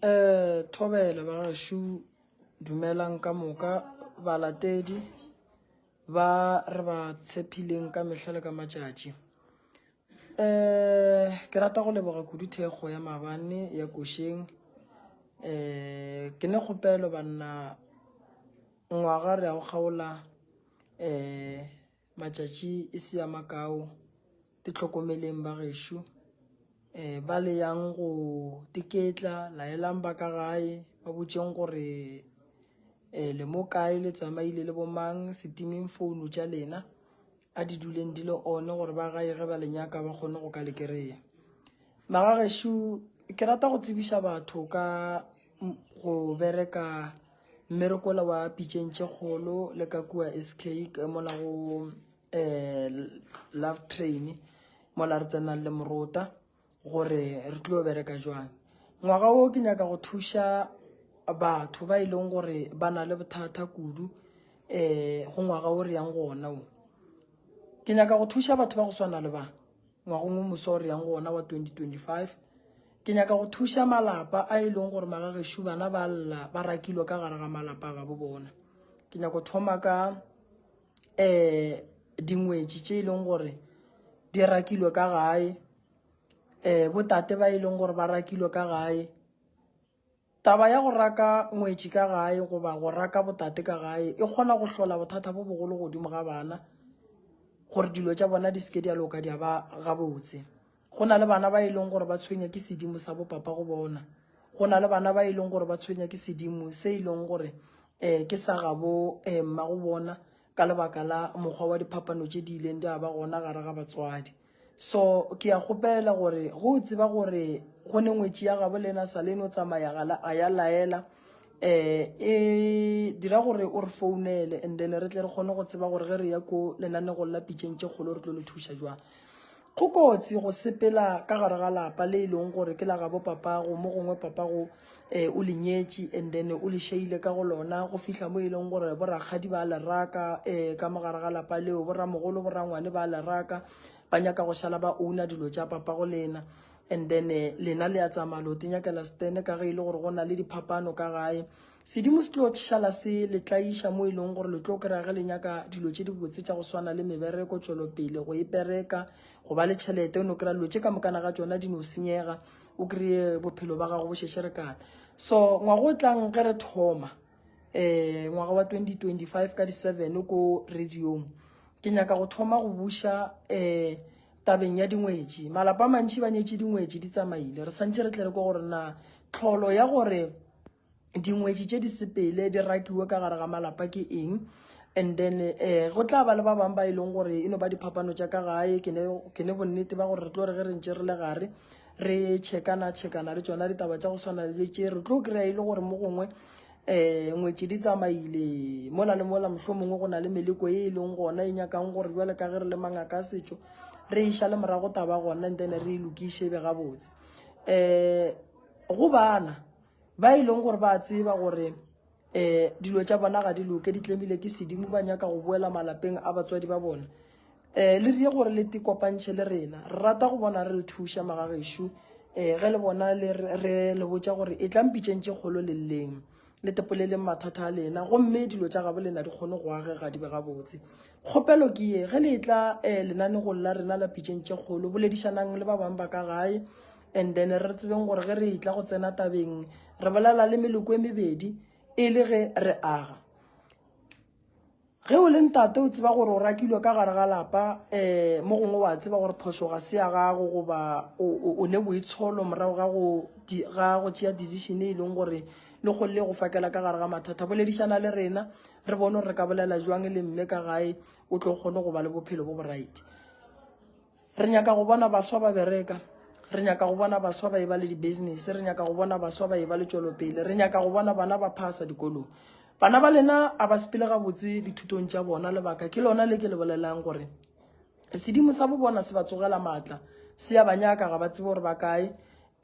eh thobela ba gašu dumelang ka moka balatedi ba re ba tshepileng ka mehla le ka matšatši eh ke rata go leboga kudu thekgo ya mabane ya košeng eh ke ne kgopelo banna ngwaga re ya go kgaola eh Matšatši e se a makao, Tihlokomeleng bagešo. Um Ba le yang go tiketla, laelang ba ka gae, ba botšeng gore um le mo kae, le tsamaile le bo mang. Se timeng founo tša lena, a di duleng di le on gore ba gae ge ba le nyaka ba kgone go ka le kry-a. Magagešo ke rata go tsebiša batho ka. go bereka mmerekola wa pitšeng tše kgolo le ka kua sk mola go um love train mola re tsenang le morota gore re tlo bereka jwang ngwaga wo ke nyaka go thuša batho ba e leng gore ba na le bothata kudu um go ngwaga o re yang gona o ke nyaka go thuša batho ba go swana le ba Ngwagong o moso re yang go ona wa 2025, ke nyaka go thuša malapa a e leng gore magagešu bana ba lla ba rakilwe ka gare ga malapa a gabo bona. Ke nyaka go thoma ka um dingwetši tše e leng gore di rakilwe ka gae, um botate ba e leng gore ba rakilwe ka gae, Taba ya go raka ngwetši ka gae goba go raka botate ka gae e kgona go hlola bothata bo bogolo godimo ga bana gore dilo tša bona di seke di a loka di a ba gabotse. Go na le bana ba e leng gore ba tshwenya ke sedimo sa bopapa go bona. Go na le bana ba e leng gore ba tshwenya ke sedimo se e leng gore um ke sa gabo um mma go bona ka lebaka la mokgwa wa diphapano tše di ileng di a ba gona gare ga batswadi so ke ya kgopela gore go o tseba gore go ne ngwetši ya gabo le ena sa le no tsamaya a ya laela um e dira gore o re founele and then re tle re kgone go tseba gore ge re ya ko lenanego la pitšeng tše kgolo re tlo le thuša jwang Go kotsi go sepela ka gare ga lapa le e leng gore ke la gabo papago mo gongwe papago um eh, o le nyetše and then o le šeile ka go lona go fihla mo e leng gore borakgadi ba leraka um eh, ka mo gare ga lapa leo boramogolo borangwane ba leraka ba nyaka go šala ba owna dilo tša papago lena and then eh, lena le ya tsamaya lote nyakela stene ka ge e le gore go na le diphapano ka gae Sedimo se tlo šala se le tlaiša mo e leng gore le tlo kry-a ge le nyaka dilo tše dibotse tša go swana le mebereko, tšwelopele, go e pereka, go ba le tšhelete. O no kry-a dilo tše ka mokana ga tsona di no senyega, o kry-e bophelo ba gago bo šešerekana. So ngwaga o tlang ge re thoma um ngwaga wa 2025 ka di-seven ko radiong ke nyaka go thoma go buša um tabeng ya dingwetši malapa a mantšhi ba nyetše dingwetši di tsamaile re santšhe re tle re ko gore na tlholo ya gore dingwetši tše di sepele di rakiwe ka gare ga malapa ke eng and then eh go tla ba le ba bangwe ba e leng gore e no ba diphapano tša ka gae ke ne bonnete ba gore re tlo re ge re ntše re le gare re chekana chekana le tsona ditaba tša go swana le tše re tlo kry-a e le gore mo gongwe um ngwetši di tsamaile mola le mola mohlho mongwe go na le meleko e e leng gona e nyakang gore jale ka ge re le mangaka a setšo re e šale morago taba gona and then re e lokiše e be gabotse um go bana Ba e leng gore ba a tseba gore um dilo tša bona ga di loke di tlemile ke sedimo ba nyaka go boela malapeng a batswadi ba bona um le rie gore le te kopantšhe le rena re rata go bona re le thuša magagešo um ge le bona re le botša gore e tlang pitšeng tše kgolo le lleng le tepoleleng mathata a lena gomme dilo tša gabo lena di kgone go agega di be gabotse kgopelo ke ye ge le e tla um lenanegong la rena la pitšeng tše kgolo boledišanang le ba bangwe ba ka gae And then re tsebeng gore ge re etla go tsena tabeng re bolela le meloko e mebedi e le ge re aga ge o le ntate o tseba gore o rakilwe ka gare ga lapa um mo gongwe wa tseba gore phoso ga se ya gago goba o ne boitsholo morago ga go tšea decision e leng gore le go le go fakela ka gare ga mathata boledišana le rena re bone gore re ka bolela jwang le mme ka gae o tlo kgone go ba le bophelo bo boraite Re nyaka go bona baswa ba bereka. Re nyaka go bona baswa ba eba le di-business. Re nyaka go bona baswa ba eba le tšwelopele. Re nyaka go bona bana ba phasa dikolong. Bana ba lena a ba sepele gabotse dithutong tša bona. Lebaka ke lona le ke le bolelang gore sedimo sa bo bona se ba tsogela maatla. Se ya ba nyaka ga ba tsebe gore ba kae.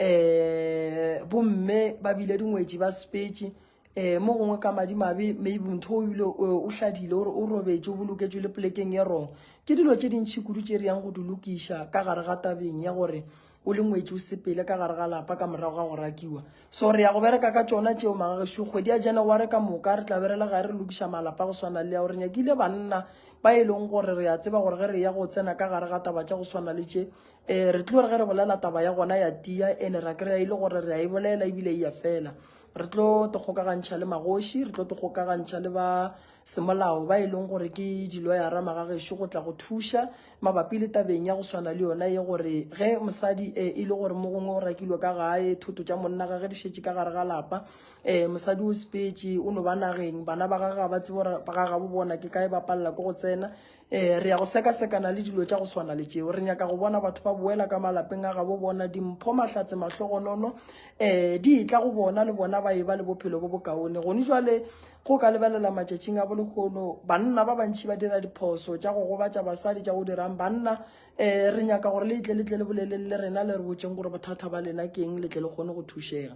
Um bomme ba bile dingwetši ba sepetše. um mo gongwe ka madimabe maybe motho o ebile o hladile ore o robetše o boloketšwe le polekeng e rong ke dilo tše dintšhi kudu tše re yang go di lokiša ka gare ga tabeng ya gore o le ngwetši o sepele ka gare ga lapa ka morago ga go rakiwa so re ya go bereka ka tsona tšeo magagešo kgwedi ya january ka moka re tla be re le ga re lokiša malapa go swana le ya gore nyakile banna ba e leng gore re a tseba gore ge re ya go tsena ka gare ga taba tša go swana le tše um re tlo re ge re bolela taba ya gona ya tia and-e ra kry-a e le gore re a e bolela ebile e ya fela re tlo te kgokagantšha le magoši re tlo te kgokagantšha le ba semolao ba e leng gore ke diloyara magagešo go tla go thuša mabapi le tabeng ya go swana le yona ye gore ge mosadi um e le gore mo gongwe o rakilwe ka gae thoto tša monna gage di šetše ka gare ga lapa um mosadi o sepetse o no ba nageng bana ba gage ga ba tsebo gore ga gabo bona ke kae ba palela ke go tsena Ee, re ya go sekasekana le dilo tša go swana le tšeo. Re nyaka go bona batho ba boela ka malapeng a gabo bona, dimpho, mahlatse, mahlogonono, um di etla go bona le bona ba eba le bophelo bo bokaone. Gone jwale go ka lebelela matšatšing a bolehono, banna ba bantši ba dira diphoso tša go gobatša basadi tša go dirang banna. Um re nyaka gore le etle le tle le boleleng le rena le re botšeng gore bothata ba lena keng le tle le kgone go thušega.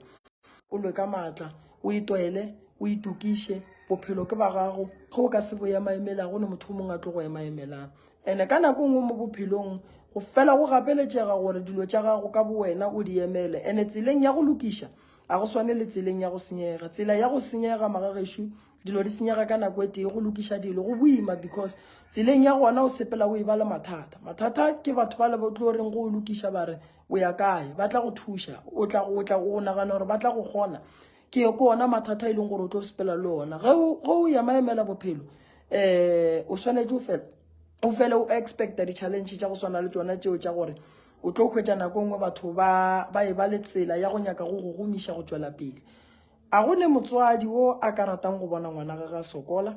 O lwe ka matla, o itwele, o itokiše. Bophelo ke ba gago. Ge o ka se bo emaemela, go ne motho o mongwe a tlo go emaemelang. Ene ka nako e nngwe mo bophelong go fela go gapeletšega gore dilo tša gago ka bowena o di emele. Ene tseleng ya go lokiša a go swane le tseleng ya go senyega. Tsela ya go senyega magagešo dilo di senyega ka nako e tee go lokiša dilo go boima because tseleng ya gona o sepela o e ba le mathata mathata ke batho ba le ba tlo reng go lokiša ba re o ya kae ba tla go thuša o tla go tla go nagana gore ba tla go kgona ke ko ona mathata e leng gore o tlo sepela le ona ge o ya maemela bophelo um o swanetse o fela o fele o expecta di-challenge tša go swana le tsona tseo tša gore o tlo hwetša nako e nngwe batho ba e ba le tsela ya go nyaka go go gomiša go tšwela pele A go ne motswadi wo a ka ratang go bona ngwana gage a sokola?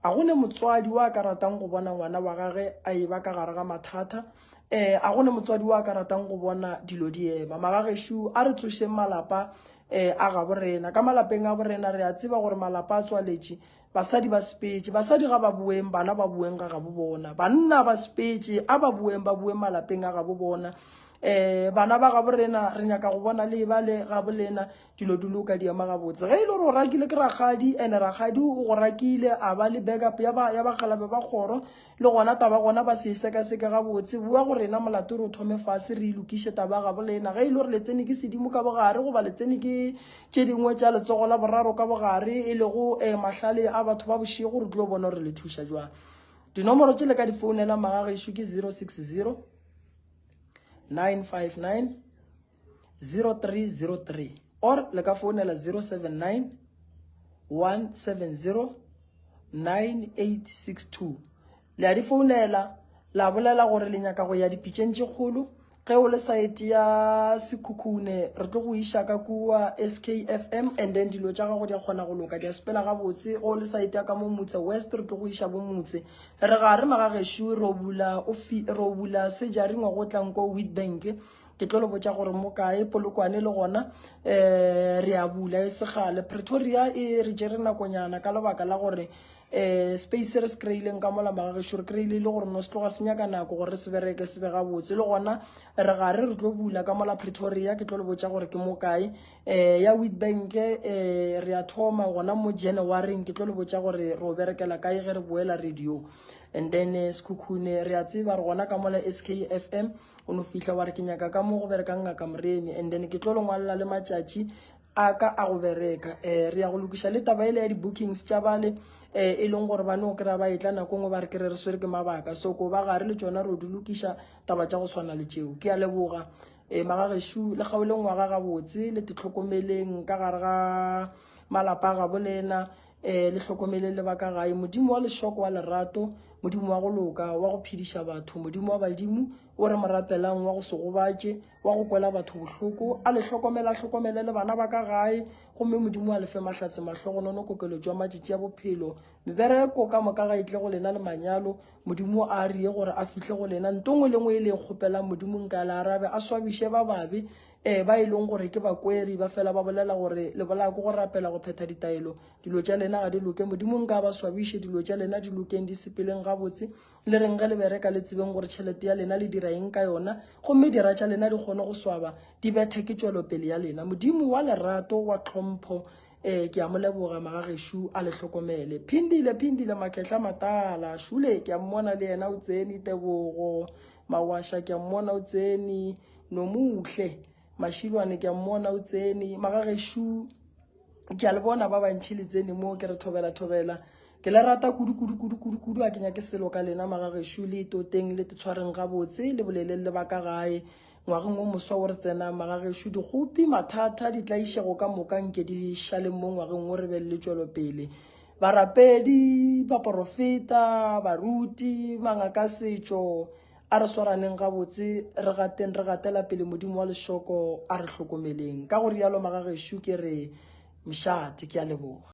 A go ne motswadi wo a ka ratang go bona ngwana wa gage a e ba ka gare ga mathata? Eh, a go ne motswadi wo a ka ratang go bona dilo di ema? Magagešu, a re tsošeng malapa eh, a gabo rena. Ka malapeng a borena re a tseba gore malapa a tswaletše, basadi ba sepetše. Basadi ga ba boeng, bana ba boeng ga gabo bona. Banna ba sepetše, a ba boeng, ba boeng malapeng a gabo bona. Eh, bana ba gabo rena, re nyaka go bona le eba le gabo lena. dilo di loka di ema gabotse ge e le gore o rakile ke rakgadi and rakgadi o go rakile a ba le backup ya bagalabe ba kgoro le gona taba gona ba se e sekaseke gabotse boa go rena molato re o thome fase re e lokiše taba gabo le ena ge e le gore le tsene ke sedimo ka bogare goba le tsene ke tše dingwe tša letsogo la boraro ka bogare e lego um mahlale a batho ba bošego re tlo bona gore le thuša jwang dinomoro tše le ka di founela magagešo ke zero six zero nine five nine 0303 or le ka founela 079 170 9862 le a di founela la bolela gore le nyaka go ya dipitšeng tše kgolo ge o le saete ya sekhukhune re tlo go iša ka kua skfm and then dilo tša gago di a kgona go loka di a sepela gabotse ge o le saete ya ka mo motse west re tlo go iša bo motse re ga re magagešo ro bula sejaringwa go tlanko witbank ke tlo le botša gore mo kae polokwane le gona um re a bula e segale pretoria e re jere nakonyana ka lebaka la gore um space se re se kry-ileng ka mola magagešo re kry-ile e le gore no se tloga se nyaka nako gore re se bereke se be gabotse le gona re gare re tlo bula ka mola pretoria ke tlo le botša gore ke mo kae um ya wit bank um re a thoma gona mo januaryng ke tlo le botša gore re o berekela kae ge re boela radio and then eh, sekhukhune re a tseba re gona ka mola s k f m o no fihla wa re ke nyaka ka mo go berekang ngaka moremi and then ke tlo le ngwalela le matšatši a ka a go bereka um re ya go lokiša le taba ele ya di-bookings tša bale um e leng gore ba no kry-a ba etla nako ngwe ba re kere re swere ke mabaka so ko ba gare le tsona re o di lokiša taba tša go swana le tšeo ke a leboga um magagešu le kgaoleng wa ga gabotse le titlhokomeleng ka gare ga malapa a gabo le ena Eh, le hlokomele le ba ka gae modimo wa lešoko wa lerato modimo wa go loka wa go phediša batho modimo wa badimo o re morapelang wa go se gobatše wa go kwela batho bohloko a le hlokomele a hlokomele le bana ba ka gae gomme modimo a lefe mahlatse mahlogonono kokelo jwa matšatši ya bophelo mebereko ka moka ga itle go lena le manyalo modimo a rie gore a fihle go lena ntongwe le ngwe e le e kgopelang modimong ka le arabe a swabiše ba babe Ee, ba e leng gore ke bakweri ba fela ba bolela gore le bolaya ko go rapela go phetha ditaelo. Dilo tša lena ga di loke. Modimo nka ba swabiše, dilo tša lena di lokeng, di sepeleng gabotse. Le reng ge le bereka le tsebeng gore tšhelete ya lena le dira eng ka yona, gomme dira tša lena di kgone go swaba, di bethe ke tšwelopele ya lena. Modimo wa lerato, wa tlhompho, um ke a mo leboga magagešo a le hlokomele. Phindile, Phindile Makhetla Matala, šule ke a mmona le yena o tseni, Tebogo Mawasha ke a mmona o tseni. Nomuhle Mashilwane ke a mmona o tsene magageshu ke a le bona ba bantšhi le tsene mo ke re thobela thobela ke le rata kudu kudu kudu kudu kudu a ke nyake selo ka lena magageshu le toteng le tetshwareng gabotse le boleleng le baka gae ngwageng o moswa o re tsenang magageshu dikgopi mathata ditlaišego ka moka nke di šaleng mo ngwageng o re be le tšwelopele barapedi baporofeta baruti mangaka setšo A re swaraneng gabotse, re gateng re gatela pele Modimo wa lešoko a re hlokomeleng. Ka go rialo magagešo ke re, Mšate, ke a leboga.